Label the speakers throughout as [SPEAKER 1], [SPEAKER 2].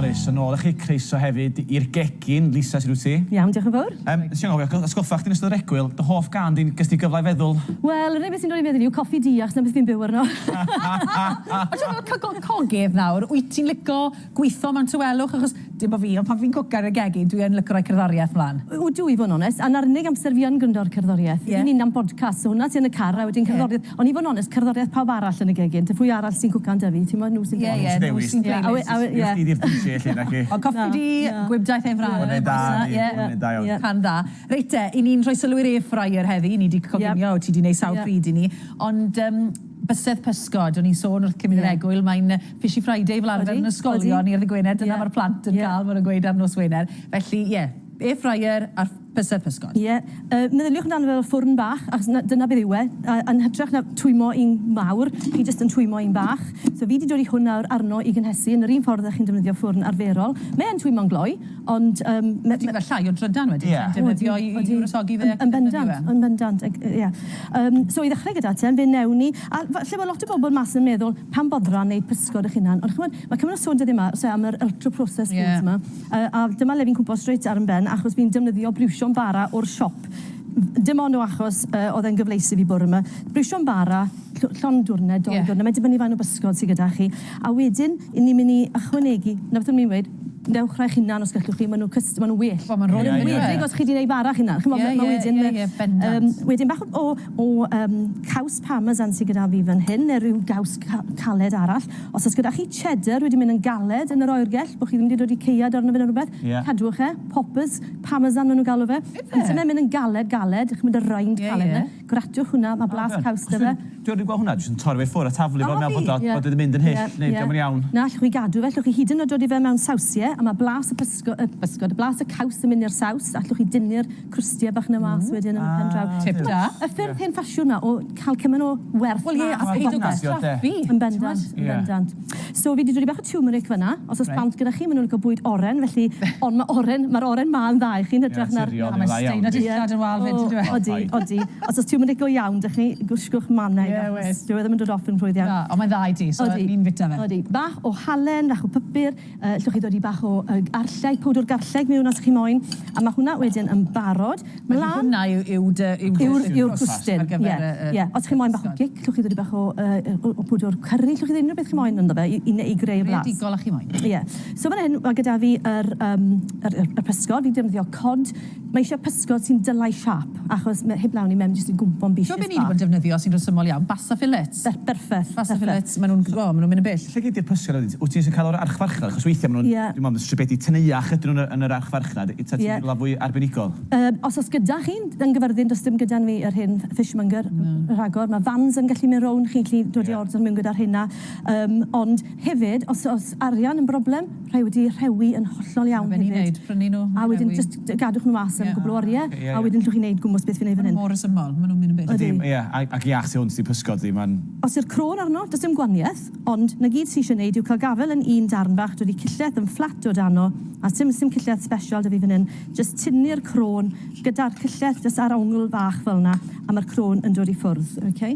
[SPEAKER 1] Croeso yn ôl i chi, croeso hefyd i'r gegin, Lisa, sut wyt ti? Iawn, diolch yn fawr. Yym,
[SPEAKER 2] nes i anghofio, atgoffa
[SPEAKER 1] chdi yn ystod yr egwyl, dy hoff gân di, ges di gyfle i feddwl? Wel, yr unig beth sy'n dod i
[SPEAKER 2] meddwl i fi yw Coffi Du, achos 'na beth fi'n byw arno.
[SPEAKER 3] Ond ti'n gwbod, coggydd nawr, wyt ti'n lico Gwitho mewn tawelwch achos dim bo fi ond pan fi'n cwcan yn y gegin dwi yn lyco roi cerddoriaeth mlan. O dw i fod yn onest a
[SPEAKER 2] na'r unig amser fi yn gwrndo'r cerddoriaeth yw ni'n nam bodcast so hwnna ti yn y car a wedyn cerddoriaeth ond i fod yn onest cerddoriaeth pawb arall yn y gegin te pwy arall sy'n cwcan da fi t'mod nhw sy'n dewis. Ie ie nhw sy'n dewis. Ie ie. Wnest ti ddi'r
[SPEAKER 3] DJ elli naci? Ond coffi di gwibdaith air fryer. Hwnne da yndi hwnne da
[SPEAKER 1] iawn. Can dda. Reit te
[SPEAKER 3] i ni'n rhoi sylw i'r air fryer heddi ni di coginio ti di neud sawl pryd i ni ond yym Bysedd pysgod, o'n i'n sôn wrth Cymun yr Egwyl, mae'n Fishy Friday fel arfer yn ysgolion ni ar ddydd Gwener, dyna mae'r plant yn cael, maen nhw'n gweud ar nos Wener. Felly ie, air fryer a bysedd pysgod. Ie, meddyliwch amdano
[SPEAKER 2] fe fel ffwrn bach, achos dyna beth yw e, yn hytrach na twymmo un mawr, chi jyst yn twymmo un bach. So fi 'di dod i hwn nawr arno i gynhesu yn yr un ffordd â chi'n defnyddio ffwrn arferol. Mae yn twymmo'n gloi, Ond yym m- m- Ti'n gweld llai
[SPEAKER 3] o drydan wedyn yn defnyddio i wresogi fe ac yn defnyddio fe. Yn
[SPEAKER 2] bendant, yn bendant, ag- yy ie. Yym so i ddechrau gyda te, fe newn ni, a f- lle ma' lot o bobl mas yn meddwl, pam boddran neud pysgod 'ych hunan? Ond ch'mod, ma' cymaint o sôn dyddie 'ma, o's e, am yr ultra processed foods 'ma. Ie. Yy a dyma le fi'n cwmpo strêt ar 'yn ben achos fi'n defnyddio briwsion bara o'r siop. Dim ond o achos yy o'dd e'n gyfleus i fi bore 'ma. Briwsion bara, llw- llond dwrne, dou dwrne. Ie. Mae'n dibynnu faint o bysgod sy gyda chi. A wedyn, 'yn ni myn' i ychwanegu, 'na beth o'n i'n weud. Dewch rhai chi'na'n os gellwch chi, ma' nhw'n cyst- ma' nhw'n well. Wel ma'n rhoi enwedig
[SPEAKER 3] os chi 'di neud fara
[SPEAKER 2] chi'na'n, ch'mod ma' ma' wedyn yy yym wedyn bach o o yym caws parmesan sy gyda fi fan hyn ne' ryw gaws ca- caled arall. Os o's gyda chi cheddar wedi myn' yn galed yn yr oergell, bo' chi ddim 'di dodi caead arno fe ne' rwbeth, cadwch e, poppers, parmesan ma' nhw'n galw fe, on'd yfe myn' yn galed galed, ch'mod y rind caled 'na. Gwratiwch hwnna, mae blas caws 'da fe. Dwi wedi gweld hwnna, dwi jyst yn torri
[SPEAKER 1] fe i ffwrdd a taflu fo mewn pot a bod wedi mynd yn hyll neu dio'm yn iawn. Na, allwch chi gadw fe, allwch
[SPEAKER 2] chi hyd yn oed roi fe mewn sawsie a mae blas y pysgod, y pysgod, blas y caws yn mynd i'r saws, allwch chi dynnu'r crwstie bach 'na mas wedyn yn y pen draw. Tip da. Y ffyrdd
[SPEAKER 3] hen ffasiwn
[SPEAKER 2] 'ma o cael cymaint o werth mas o bopeth. Wel ie, a peidio
[SPEAKER 3] gwastraffu. Yn bendant, yn
[SPEAKER 2] bendant. So fi 'di dodi bach o tiwmeric fan'na, os o's plant gyda chi, ma' nw'n lico bwyd oren, felly, ond ma' oren, ma'r oren 'ma yn dda i chi yn hytrach na'r... Ie, naturiol yw'r dda iawn. A mae dillad
[SPEAKER 3] yn wâl 'fyd yndyw e? Odi, odi. Os o's tiwmeric
[SPEAKER 2] go iawn 'da chi, gwshgwch manna i fe achos dyw e ddim yn dod off yn rhwydd iawn. Na, ond mae'n dda i ti, so
[SPEAKER 3] ni'n fita fe. Odi, bach o halen,
[SPEAKER 2] fach o pypyr. Yy, 'llwch chi ddodi bach o yy garlleg, powdwr garlleg miwn os chi moyn, a ma' hwnna wedyn yn barod. Felly Mlan! hwnna yw
[SPEAKER 3] yw dy yw dy... Yw'r
[SPEAKER 2] yw'r gwsty. Ar gyfer y y... Ie, ie. Os chi moyn bach o gic, 'llwch chi ddodi bach o yy yy o o pwdwr cyrri, 'llwch chi unryw beth chi moyn ynddo fe i i ne- i greu blas. Greadigol a chi moyn. Ie.
[SPEAKER 3] So fan 'yn ma' gyda
[SPEAKER 2] fi yr yym yr yr y pysgod, fi'n defnyddio cod Mae eisiau pysgod sy'n dylau siâp, achos mae... heb law ni mewn jyst yn gwmpo yn bishyn bach. T'mo be ni 'di bod yn defnyddio sy'n
[SPEAKER 3] resymol iawn? Basa fillets. Be- berffeth. Basa
[SPEAKER 2] fillets, ma' nw'n,
[SPEAKER 3] o, ma' nw'n mynd yn bell. Lle gei di'r pysgod wedyn? T- wt
[SPEAKER 1] ti jyst yn ca'l o o'r archfarchnad? Achos weithia' ma' nw'n... Ie. Dwi me'wl bod stribedi teneuach ydyn nw yn y yn yr archfarchnad. Yy ta ti'n... Ie. ...rwla fwy arbenigol? Yym, os o's gyda
[SPEAKER 2] chi, yn Gyfyrddin does dim gyda ni yr hyn fishmonger... Na. ...r- rhagor. Ma' vans yn gallu mynd rownd, chi'n gallu dod i ordro mewn gyda'r rheina. Yym, ond hefyd os o's arian yn broblem, rhai wedi rhewi yn hollol iawn hefyd. Mae fe'n i neud, prynu nhw, rhewi. A wedyn jyst gadwch nhw mas am gwpl o orie, a wedyn allwch chi neud gwmws beth fi'n neud fan hyn. Mae nhw mor resymol, mae nhw'n mynd yn byth.
[SPEAKER 3] Ydi, ie, ac iach tu
[SPEAKER 1] hwnt i pysgod fi, mae'n. Os yw'r croen arno,
[SPEAKER 2] does dim gwanieth, ond 'na gyd sy eisiau neud yw cael gafel yn un darn bach, dod i cillell yn fflat o dano, a sim sim cillell sbesial 'da fi fan hyn, jyst tynnu'r croen gyda'r cillell jyst ar ongl fach fel 'na, a ma'r croen yn dod i ffwrdd, ok.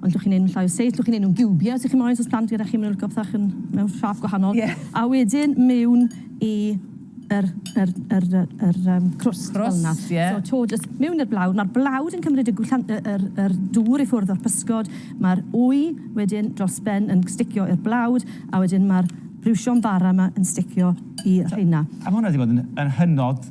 [SPEAKER 2] Ond llwch chi'n neud nhw'n llai o seis, llwch chi'n neud nhw'n giwbie os ych chi'n moyn, os o's plant gyda chi ma' nhw'n lico pethach yn mewn siâp gwahanol. Ie. A wedyn mewn i yr yr yr yy yr yym crwst fel 'na. Crwst, ie. So 'to jyst mewn i'r blawd, ma'r blawd yn cymryd y gwllan- yy yr yr dŵr i ffwrdd o'r pysgod, ma'r wy wedyn dros ben yn sticio i'r blawd, a wedyn ma'r briwsion bara 'ma yn sticio i rheina. A ma' hwnna 'di bod yn yn
[SPEAKER 1] hynod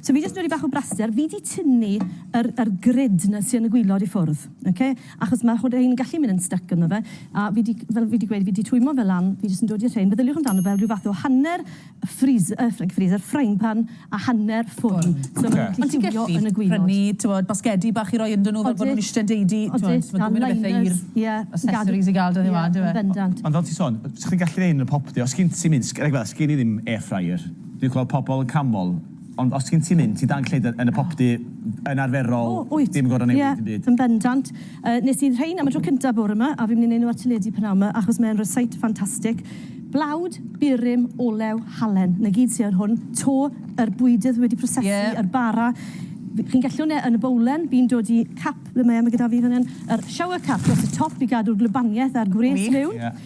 [SPEAKER 3] So fi jyst yn roi bach o
[SPEAKER 2] braster, fi di tynnu yr, yr grid na sy yn y gwylod i ffwrdd, ok? Achos mae hwn, rhein yn gallu mynd yn styc ynddo fe, a fi di, fel fi di gweud, fi di twymo fe lan, fi jyst yn dod i'r rhein, feddyliwch amdano fel rhyw fath o hanner ffris- yy ffri- ffriser, frying pan a hanner ffwrn. So maen nhw'n gallu lliwio yn y gwylod. Ond ti'n gallu prynu, t'mod, basgedi
[SPEAKER 3] bach i roi ynddyn nhw fel bod nhw'n ishte yn deudu, t'mod, ma' gymaint o bethe i'r accessories i gael 'da ni 'wan, dyw e? Yn bendant. Ond fel ti'n sôn,
[SPEAKER 2] 'sech
[SPEAKER 1] chdi'n gallu neud yn y popty, os gin ti mynd, s- rhaid gweud, sgin i ddim air fryer, Dwi'n gweld pobl yn canmol, ond os ti'n ti'n mynd, ti'n dan cledr yn y popty yn arferol... O, wyt. ...dim yn gorfod newid dim byd. Ie, yn bendant.
[SPEAKER 2] Yy, nes i rhein am y tro cynta bore 'ma, a fi'n mynd i neud nhw ar teledu p'nawn 'ma, achos mae e'n rysáit ffantastig. Blawd, burum, olew, halen, 'na gyd sy ar hwn. To, yr bwydydd wedi prosesu... Ie. ...yr bara. F- chi'n gallu wne- yn y bowlen, fi'n dod i cap, ble mae e, ma' gyda fi fan 'yn, yr shower cap dros y top i gadw'r gwlybaniaeth a'r gwres mewn. Gwych. Ie.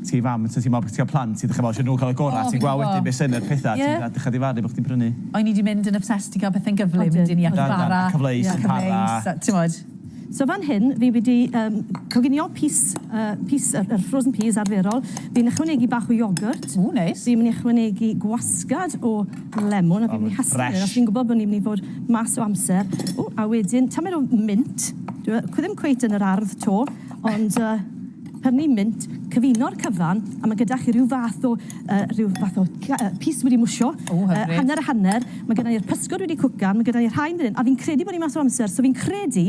[SPEAKER 1] Ti fam, so ti'n meddwl bod chdi'n cael plant, ti'n dechrau meddwl isio nhw cael y gorau, a ti'n gweld wedyn be sy'n y pethau ti'n dechrau difaru bod chdi'n prynu. O'n i 'di mynd yn obsessed
[SPEAKER 3] i gael pethau'n gyflym, un i achub bara, a cyfleus yn para.
[SPEAKER 1] Timod. So
[SPEAKER 2] fan hyn, fi wedi coginio pys yr frozen peas arferol. Fi'n ychwanegu bach o iogwrt. Ww, neis. Fi'n mynd i
[SPEAKER 3] ychwanegu
[SPEAKER 2] gwasgad o lemon, a fi'n mynd i hasio fe, achos fi'n gwybod bod ni'n mynd i fod mas o amser. Ww, a wedyn tamaid o mint. Dyw e ddim cweit yn yr ardd 'to, ond yy... Pan ni'n mynd, cyfuno'r cyfan, a ma' gyda chi rhyw fath o yy rhyw fath o cy- yy pys wedi mwsio. O hyfryd. Yy hanner a hanner. Ma' gyda ni'r pysgod wedi cwcan, ma' gyda ni rhain fan 'yn, a fi'n credu bo' ni mas o amser, so fi'n credu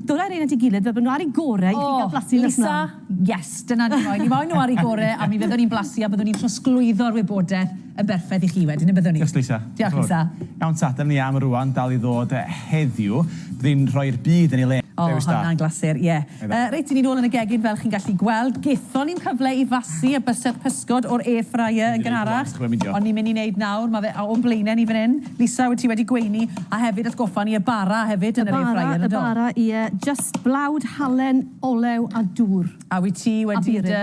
[SPEAKER 2] dylai rein at 'i gilydd fel bo' n'w ar 'u gore i chi ga'l blasu nes mlan. O, Lisa, yes,
[SPEAKER 3] dyna ni moyn. Ni moyn n'w ar 'u gore, a mi fyddwn ni'n blasu a byddwn ni'n trosglwyddo'r wybodeth. yn berffaith i chi wedyn, y byddwn i. Diolch Lisa. Diolch Lisa.
[SPEAKER 1] Iawn
[SPEAKER 3] ta, dyna ni am
[SPEAKER 1] rwan, dal i ddod heddiw. Bydd hi'n rhoi'r byd yn ei le. O, Dewis da. Honna'n glasur,
[SPEAKER 3] ie. Yy, reit, 'yn ni nôl yn y gegin fel chi'n gallu gweld. Gethon ni'm cyfle i fasu y bysedd pysgod o'r air fryer yn gynharach, ond ni'n mynd i neud nawr, ma' fe a- o'n blaene ni fan 'yn. Lisa, wyt ti wedi gweini, a hefyd atgoffa ni y bara hefyd yn yr air fryer, yndo? Y bara, y bara, ie,
[SPEAKER 2] jyst blawd halen, olew a dŵr. A wyt ti wedi
[SPEAKER 3] dy...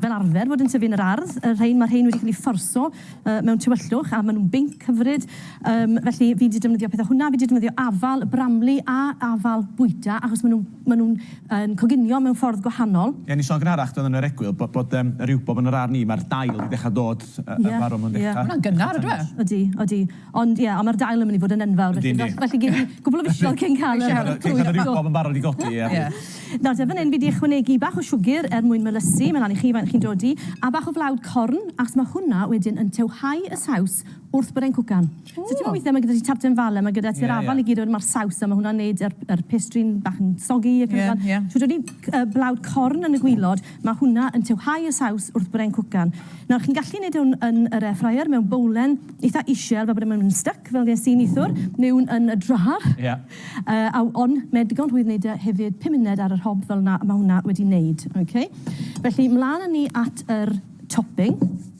[SPEAKER 2] fel arfer fod yn tyfu yn yr ardd, y rhein, mae'r rhein wedi cael eu fforso mewn tywyllwch a maen nhw'n binc hyfryd. Um, felly fi wedi defnyddio pethau hwnna, fi wedi defnyddio afal y bramli a afal bwyta, achos maen nhw'n ma nhw yn coginio mewn ffordd gwahanol. Ie, ni sôn gynharach, doedd yn yr
[SPEAKER 1] egwyl, bod, bod um, yr iwbob yn yr arni, mae'r dail wedi dechrau dod, uh, yeah, y farw, mae'n yeah. dechrau... Hwna'n gynnar, ydw e?
[SPEAKER 3] Ydy, ydy. Ond
[SPEAKER 2] ie, ond mae'r dail yn mynd i fod yn enfawr, felly falle gei di gwpl o fisoedd cyn cael y clwyfau. Cei cael y riwbob yn
[SPEAKER 1] barod i godi, ie. Nawr te, fan hyn fi
[SPEAKER 2] 'di ychwanegu bach o siwgr er mwyn melysu, mae'n lan i chi faint chi'n dodi, a bach o flawd corn, achos mae hwnna wedyn yn tywhau y saws wrth bod e'n cwcan. So ti'n gwybod weithiau mae gyda ti tarten fala, mae gyda ti'r afal i gyd a wedyn mae'r saws a mae hwnna'n wneud yr pastry'n bach yn soggy ac yn y blaen. Shwt o'n ni? Blawd corn yn y gwilod. Mae hwnna yn tiwhau y saws wrth bren cwcan. Nawr, chi'n gallu neud hwn yn yr air fryer mewn bowlen eitha isel fel bod e ddim yn styc fel ges i neithwr, neu yn y drâr. Ie. Yy a on mae digon rhwydd neud e hefyd pum muned ar yr hob fel 'na a ma' hwnna wedi neud. Ok. Felly mlan a ni at yr topping.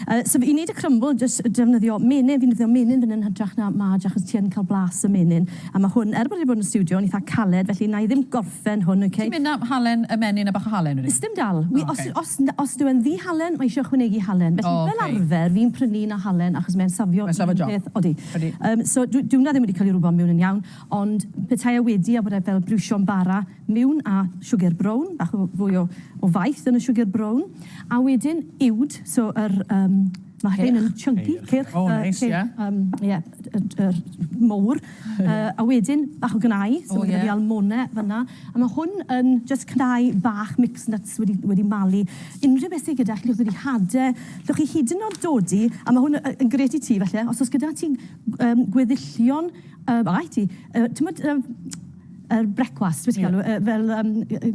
[SPEAKER 3] Yy
[SPEAKER 2] so i neud y crumble jyst defnyddio menyn, fi'n defnyddio menyn fan 'yn hytrach na maj achos ti yn ca'l blas y menyn. A ma' hwn, er bod e 'di bod yn y stiwdio, yn itha caled felly wna i ddim gorffen hwn, oce? Ti'n mynd am halen y
[SPEAKER 3] menyn a bach o halen wedyn? Sdim dal. O ocê. Wi os
[SPEAKER 2] os n- os dyw e'n ddi-halen mae isio ychwanegu halen. O ocê. Felly fel arfer fi'n prynu un â halen achos mae'n safio un peth. Mae'n safio job. Peth. Odi.
[SPEAKER 3] Odi. Yym so
[SPEAKER 2] dw- dyw wnna ddim wedi ca'l 'i rwbio mewn yn iawn ond petai e wedi a bod e fel briwsio'n bara mewn a siwgr brown, bach o fwy o o faeth yn y siwgr brown, a wedyn uwd, so yr yym ma' hyn yn chunky, cyrch, yy... O neis, ie. ...yym
[SPEAKER 3] ie, y d- yr
[SPEAKER 2] mowr, yy a wedyn bach o gnau... O ie. ...so ma' gyda fi almone fynna, a ma' hwn yn jyst cnau bach mixed nuts wedi wedi malu. Unrhyw beth sy gyda chi, chi'n hade, allwch chi hyd yn o'd dod i, a ma' hwn y- yn grêt i ti falle, os o's gyda ti yym gweddillion yy ma' raid ti, yy t'mod yym Yr brecwast, be ti'n galw e, fel yym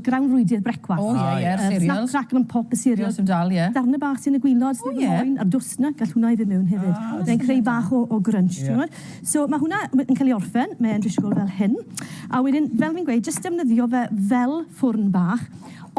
[SPEAKER 2] grawnfwydydd brecwast. O ie ie, cereals. Yr snap
[SPEAKER 3] crackle yn pop, y cereals. Cereals
[SPEAKER 2] yn dal, ie. Darnau bach
[SPEAKER 3] sy'n y gwilod, sydd
[SPEAKER 2] yn moen, a'r dwst 'na, gall hwnna i fynd mewn hefyd. Ah, reit. Mae'n creu bach o o grunch, t'mod? So ma' hwnna we- yn cael ei orffen, mae e'n disgwyl fel hyn. A wedyn, fel fi'n gweud, jyst defnyddio fe fel ffwrn bach,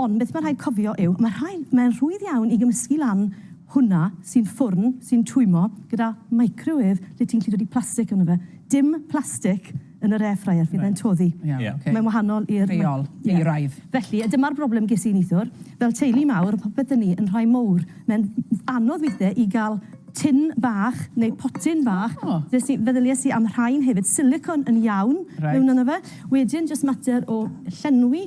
[SPEAKER 2] ond beth ma' rhaid cofio yw, ma' rhai, mae'n rhwydd iawn i gymysgu lan hwnna sy'n ffwrn, sy'n twymlo, gyda microwêf lle ti'n gallu dodi plastic ynddo fe. Dim plastic yn yr air fryer, fydd e'n toddi. Iawn, ocê. Mae'n wahanol i'r... Rheol, euraidd.
[SPEAKER 3] Felly, dyma'r broblem
[SPEAKER 2] ges i neithiwr. Fel teulu mawr, popeth 'da ni yn rhai mowr. Mae'n anodd weithiau i gael tin bach neu potyn bach. O! Des i... feddyliais i am rhain hefyd. Silicone yn iawn... Reit. ...mewn ynddo fe. Wedyn, jyst mater o llenwi...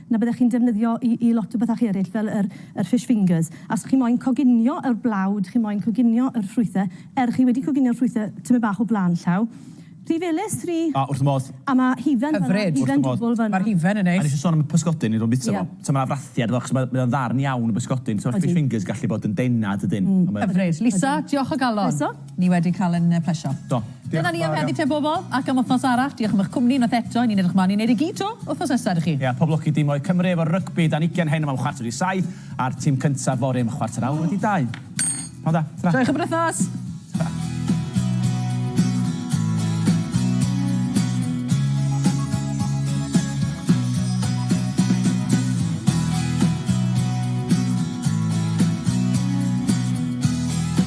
[SPEAKER 2] na byddech chi'n defnyddio i i lot o bethau eraill fel yr yr fish fingers. A os chi moyn coginio yr blawd, chi moyn coginio yr ffrwythe, er chi wedi coginio'r ffrwythe tymed bach o blaen llaw. Rhy felys, rhy... A, wrth fy modd.
[SPEAKER 1] A ma' hufen fan'na...
[SPEAKER 2] Hyfryd. Wrth fy modd. Hufen dwbwl fan'na. Ma'r hufen yn neis. A nes i son am
[SPEAKER 3] y pysgodyn o'n
[SPEAKER 1] i'n bita fo. Ie. So ma' 'na frathiad iddo fo achos mae mae o'n ddarn iawn o bysgodyn. Odi. So ma'r fish fingers gallu bod yn dena dydyn? Mm. Hyfryd. Lisa,
[SPEAKER 3] diolch o galon. Croeso. Ni wedi cael yn yy plesio. Do. Dyna ni am
[SPEAKER 1] heddi te
[SPEAKER 3] bobol, ac am wthnos arall. Diolch am ych cwmni unwaith eto, ni'n edrych mlan i neud e gyd to wthnos nesa iddo chi. Ia, pob lwc i dimoedd Cymru
[SPEAKER 1] efo'r rygbi dan ugen heno mewn chwarter i saith, a'r tîm
[SPEAKER 3] cyntaf
[SPEAKER 1] fory am chwarter
[SPEAKER 3] awr
[SPEAKER 1] wedi dau. Pnawn da. Tara. Joiwch y brwythnos.